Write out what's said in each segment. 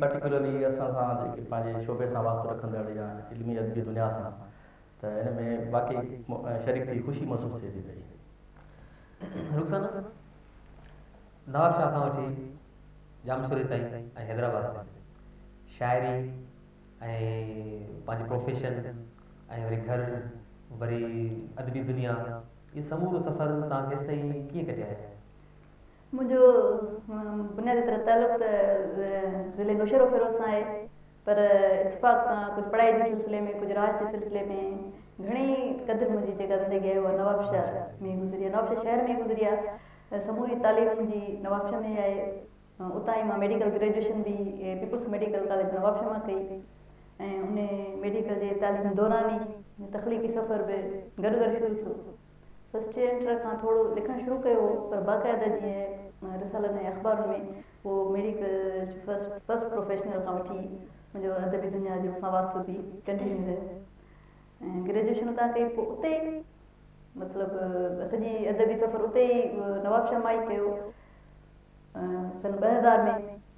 Particularly اسان سان جيڪي پنهنجي شعبي سان واسطو رکندڙ يا علمي ادبي دنيا سان ته ان ۾ واقعي شريڪ ٿي خوشي محسوس ٿئي ٿي پئي. رخسانه نواب شاهه کان وٺي ڄامشوري تائين ۽ حيدرآباد تائين شاعري ۽ پنهنجي پروفيشن ۽ وري گهر وري ادبي دنيا اهي سمورو سفر توهان ڪيستائين ڪيئن ڪٽيائي؟ منهنجو بنيادي طرح تعلق ته ضلعي نوشهروفيروز سان آهي پر اتفاق سان ڪجهه پڙهائي جي سلسلي ۾ ڪجهه راج جي سلسلي ۾ گهڻي قدر منهنجي جيڪا زندگي آهي اها نوابشاهه ۾ گذري آهي نوابشاهه شهر ۾ گذري آهي سموري تعليم منهنجي نوابشاهه ۾ ئي آهي اتان ئي مان ميڊيڪل گريجوئيشن به پيپلز ميڊيڪل ڪاليج نوابشاهه مان ڪئي ۽ ان ميڊيڪل جي تعليم دوران ئي تخليقي سفر به گڏ گڏ شروع ٿيو فرسٽ ايڊنٽر کان ٿورو لکڻ شروع ڪيو هو پر باقاعده جيئن رسالن ۽ اخبارن ۾ هو ميڊيڪل جو فرسٽ پروفيشنل کان وٺي منهنجو ادبي دنيا جو سان واسطو به ڪنٽينيو رهيو ۽ گريجوئيشن اتان ڪئي پوء اتي ئي مطلب سڄي ادبي سفر اتي ئي نوابشاهه مان ئي ڪيو سن ٻه هزار ۾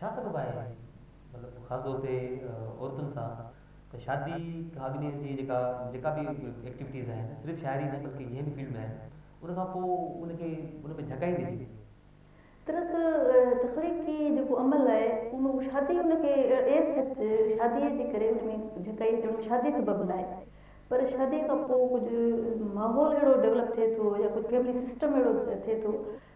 ڇا سبب آهي مطلب خاص طور تي عورتن سان ته شادي کان اڳني جي جيڪا جيڪا به ايڪٽيوٽيز آهن صرف شاعري نه بلڪه جنهن به فيلڊ ۾ آهن ان کان پوء ان کي ان ۾ جهڪائيندي ٿي وڃي. دراصل تخليقي جيڪو عمل آهي ان شادي ان کي ايز سچ شادي جي ڪري ان ۾ جهڪائي ٿي شادي سبب نه آهي پر شادي کان پوء ڪجهه ماحول اهڙو ڊولپ ٿئي ٿو يا ڪجهه فيملي سسٽم اهڙو ٿئي ٿو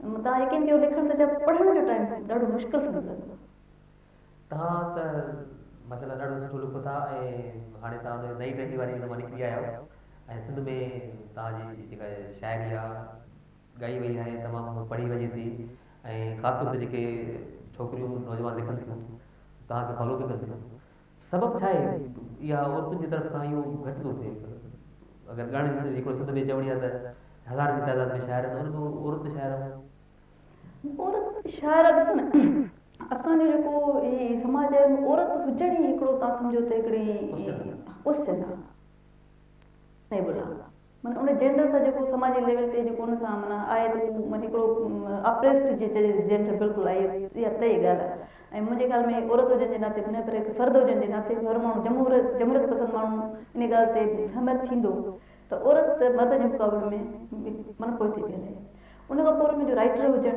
توهان يقين ڪيو لکڻ ته ڇا پڙهڻ جو ٽائيم ڏاڍو مشڪل سمجهي لڳو ٿا. توهان ته ماشاءالله ڏاڍو سٺو لکو ٿا ۽ هاڻي توهان ان نئين ٽهڪي واري ان مان نڪري آيا آهيو ۽ سنڌ ۾ توهان جي جيڪا شاعري آهي ڳائي وئي آهي تمام پڙهي وڃي ٿي ۽ خاص طور تي جيڪي ڇوڪريون نوجوان لکن ٿيون توهان کي فالو به ڪن ٿيون سبب ڇا آهي يا عورتن جي طرف کان اهو گهٽ ٿو ٿئي؟ اگر ڳائڻ جي هڪڙي سڌ ۾ چوڻي آهي ته هزارن جي تعداد ۾ شاعر آهن ان ۾ عورت شاعر آهن. عورت شاعر ڏسو نه اسان جو جيڪو هي سماج آهي ان ۾ عورت هجڻ ئي هڪڙو تان سمجهو ته هڪڙي ڪوسچن آهي. صحيح بولا من ان جينڊر سان جيڪو سماجي ليول تي جيڪو ان سان من آهي ته هو من هڪڙو اپريسٽ جي چئجي جينڊر بلڪل آهي اها طئي ڳالهه آهي ۽ منهنجي خيال ۾ عورت هجڻ جي ناتي نه پر هڪ فرد هجڻ جي ناتي هر ماڻهو جمهوريت جمهوريت پسند ماڻهو ان ڳالهه تي سهمت ٿيندو ته عورت مرد جي مقابلي ۾ من پوئتي پئي هلي ان کان پوء وري منهنجو رائٽر هجڻ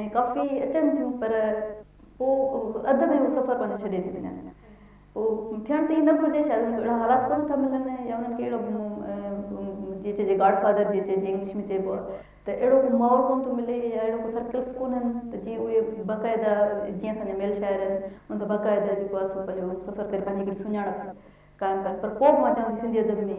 ۽ ڪافي اچن ٿيون پر پوء اڌ ۾ اهو سفر پنهنجو ڇڏي ٿيون وڃن. اهو ٿيڻ ته ائين نه گهرجي، شايد انهن کي اهڙا حالات ڪونه ٿا ملن يا انهن کي اهڙو جيئن چئجي گاڊ فادر جيئن چئجي انگلش ۾ چئبو آهي ته اهڙو ڪو ماحول ڪونه ٿو ملي يا اهڙا ڪو سرڪلس ڪونهن ته جيئن اهي باقاعده جيئن اسان جا ميل شاعر آهن انهن ته باقاعده جيڪو آهي سو پنهنجو سفر ڪري پنهنجي هڪڙي سڃاڻپ قائم ڪن پر پوء به مان چوان ٿي سنڌي ادب ۾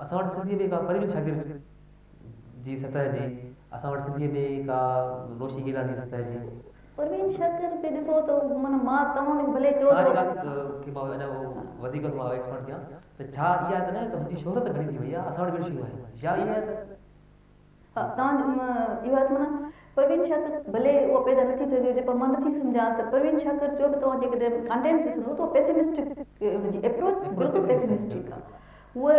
اسان وٽ سنڌيء ۾ ڪا پروين شاگرد جي سطح جي، اسان وٽ سنڌيء ۾ ڪا نوشي گيلان جي سطح جي. پروين شاگرد به ڏسو ته من مان توهان کي ڀلي چئو ته. ان ڳالهه کي مان اڃا وڌيڪ ٿو مان ايڪسپانڊ ڪيان ته ڇا اها ته نه آهي ته هن جي شهرت گهڻي ٿي وئي آهي، اسان وٽ به اهڙيون شيون آهن يا اها آهي ته. توهان جو اهو آهي ته معنيٰ پروين شاڪر ڀلي اهو پيدا نه ٿي سگهيو هجي پر مان نه ٿي سمجهان ته پروين شاڪر جو به توهان جيڪڏهن ڪانٽينٽ ڏسندو ته اهو پيسمسٽڪ ان جي ايپروچ بلڪل پيسمسٽڪ آهي هوء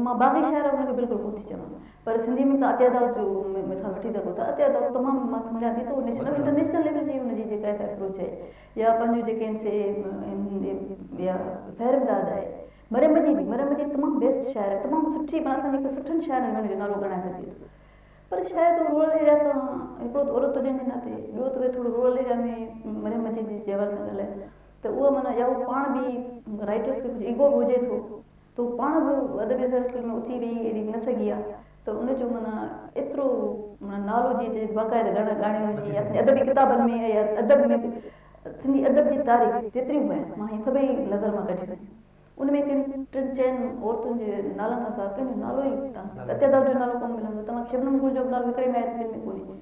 مان باغي شاعر ان کي بلڪل ڪونه ٿي چوان پر سنڌي ۾ توهان عطيه دائود جو مثال وٺي سگهو ٿا عطيه دائود تمام مان سمجهان ٿي ته نيشنل انٽرنيشنل ليول جي ان جي جيڪا ايپروچ آهي يا پنهنجو جيڪي آهن سي يا فهرم داد آهي مريم جي به مريم جي تمام بيسٽ شاعر آهي تمام سٺي معنيٰ اسان جي هڪڙي سٺن شاعرن ۾ ان جو نالو ڳڻائي سگهجي ٿو پر شايد هو رورل ايريا تان هڪڙو ته عورت هجڻ جي ناتي ٻيو ته ويري ٿورو رورل ايريا ۾ مريم مجيد جي جي حوالي سان ڳالهايو ته اها معنيٰ يا هو پاڻ به رائيٽرس کي ڪجهه ايگو به هجي ٿو ته هو پاڻ به ادبي سرڪل ۾ اٿي ويهي اهڙي نه سگهي آهي ته ان جو معنيٰ ايترو معنيٰ نالو جي جيڪي باقاعده ڳڻ ڳاڻيون آهن جي اپني ادبي ڪتابن ۾ يا ادب ۾ به سنڌي ادب جي تاريخ جيتريون به آهن مان هي سڀئي نظر مان ڪڍيون آهن ان ۾ ڪن ٽن چئن عورتن جي نالن کان سواء ڪنهن جو نالو ئي ڪانه ستيا داس جو نالو ڪونه ملندو توهان کي شبنم گل جو به نالو هڪڙي مائي ٿي ٻين ۾ ڪونهي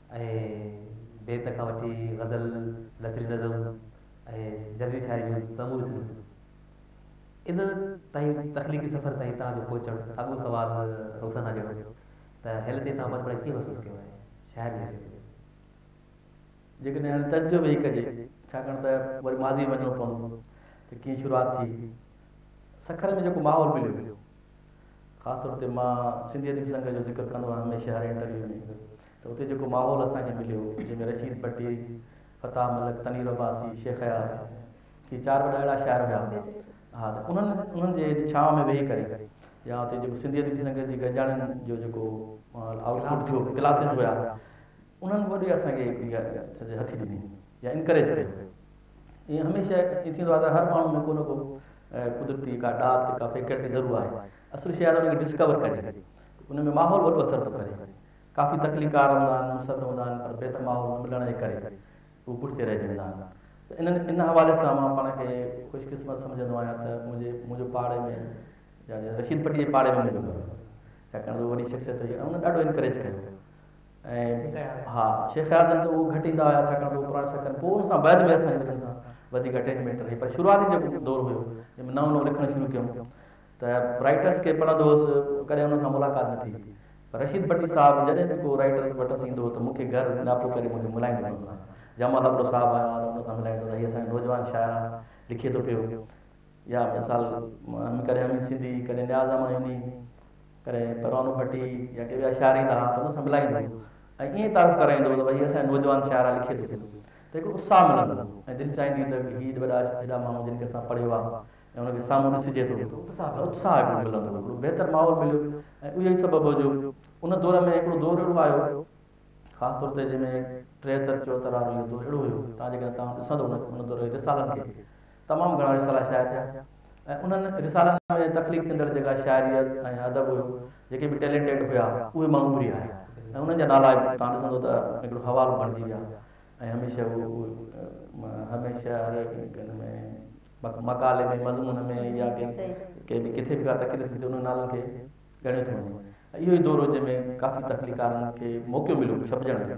۽ بيت کان وٺي غزل، نثري نظم ۽ جديد شاعري جون سموريون صنفون. ان تائين تخليقي سفر تائين توهان جو پهچڻ ساڳيو سوال رخسانه جهڙو هو ته هيل تي توهان پاڻ پڙهائي ڪيئن محسوس ڪيو آهي شاعر جي حيثيت ۾؟ جيڪڏهن هن تجزيو به هي ڪجي، ڇاڪاڻ ته وري ماضيء ۾ وڃڻو پوندو ته ڪيئن شروعات ٿي، سکر ۾ جيڪو ماحول مليو، خاص طور تي مان سنڌي ادبي سنگهه جو ذڪر ڪندو آهيان هميشه هر انٽرويو ۾، ته اتي جيڪو ماحول اسان کي مليو جنهن ۾ رشيد ڀٽي، فتاح ملڪ، تنوير عباسي، شيخ اياز هي چار وڏا اهڙا شاعر هيا ها ته انهن انهن جي ڇانو ۾ ويهي ڪري يا اتي جيڪو سنڌي ادبي سنگت جي گڏجاڻين جو جيڪو آئوٽ پٽ ٿيو ڪلاسز هيا انهن وڏي اسان کي سڄي هٿي ڏني يا انڪريج ڪيو ائين هميشه ائين ٿيندو آهي ته هر ماڻهو ۾ ڪو نه ڪو قدرتي ڪا ڏات ڪا فيڪلٽي ضرور آهي اصل شيء آهي ته ان کي ڊسڪور ڪجي ان ۾ ماحول وڏو اثر ٿو ڪري ڪافي تخليقڪار هوندا آهن، مصر هوندا آهن پر بهتر ماحول نه ملڻ جي ڪري هو پٺتي رهجي ويندا آهن ته انهن ان حوالي سان مان پاڻ کي خوش قسمت سمجهندو آهيان ته منهنجي منهنجو پاڙي ۾ يعني رشيد پٽي جي پاڙي ۾ منهنجو گهر هو ڇاڪاڻ ته وڏي شخصيت هئي ۽ ان ڏاڍو انڪريج ڪيو ۽ ها شيخ اياز جن ته هو گهٽ ايندا هيا ڇاڪاڻ ته هو پراڻا شيخ آهن پوء ان سان بعد ۾ اسان جي ملڻ سان وڌيڪ اٽيچمينٽ رهي پر شروعاتي جيڪو دور هيو جنهن ۾ نئون نئون لکڻ شروع ڪيم ته رائيٽرس کي پڙهندو هوس، ڪڏهن انهن سان ملاقات نه ٿي. پر رشيد ڀٽي صاحب جڏهن به ڪو رائيٽر وٽس ايندو هو ته مون کي گهر ڳاپو ڪري مون کي ملائيندو هو ان سان. جنهن مهل هڪڙو صاحب آيو ها ته ان سان ملائيندو ته هي اسان جو نوجوان شاعر آ، لکي ٿو پيو. يا مثال ڪڏهن حميد سنڌي، ڪڏهن نياز احمد هيني، ڪڏهن پروانو ڀٽي يا ڪي ٻيا شاعر ايندا ها ته ان سان ملائيندو هو ۽ ائين تعارف ڪرائيندو هو ته ڀئي هي اسان جو نوجوان شاعر آ، لکي ٿو پيو. ته هڪڙو اتساهه ملندو هو ۽ دل چاهيندي هئي ته هي وڏا هيڏا ماڻهو جن کي اسان پڙهيو آ، ۽ هن کي سامهون ڏسجي ٿو ته اتساهه هڪڙو ملندو هو، هڪڙو بهتر ماحول مليو ۽ اهو ئي سبب هو جو ان دور ۾ هڪڙو دور اهڙو آيو خاص طور تي جنهن ۾ ٽيهتر چوهتر وارو اهو دور اهڙو هيو تان جيڪڏهن توهان ڏسندو ان دور جي رسالن کي تمام گهڻا رسالا شايع ٿيا ۽ انهن رسالن ۾ تخليق ٿيندڙ جيڪا شاعري ۽ ادب هيو جيڪي به ٽيلينٽيڊ هيا اهي ماڻهو اڀري آيا ۽ انهن جا نالا به توهان ڏسندو ته هڪڙو حوالو بڻجي ويا ۽ هميشه اهو هميشه هر هڪ ان ۾ مقالي ۾ مضمون ۾ يا ڪنهن به ڪٿي به ڪا تقرير ٿي ته انهن نالن کي ڳڻيو ٿو وڃي ۽ اهو ئي دور هو جنهن ۾ ڪافي تخليقڪارن کي موقعو مليو ڇپجڻ جو.